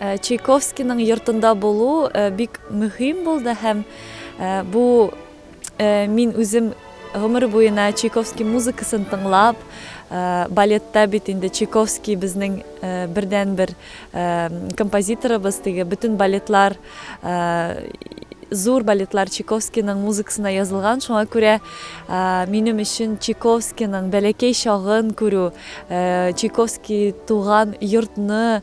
Чайковскийның йортында булу бик мөһим булды һәм бу мин үзем гомер буена Чайковский музыкасын тыңлап, балетта бит инде Чайковский безнең бердәнбер композиторыбыз, теге бөтен балетлар, зур балетлар Чайковскийның музыкасына язылган, шуңа күрә минем өчен Чайковскийның бәләкәй чагын күрү, Чайковский туган йортны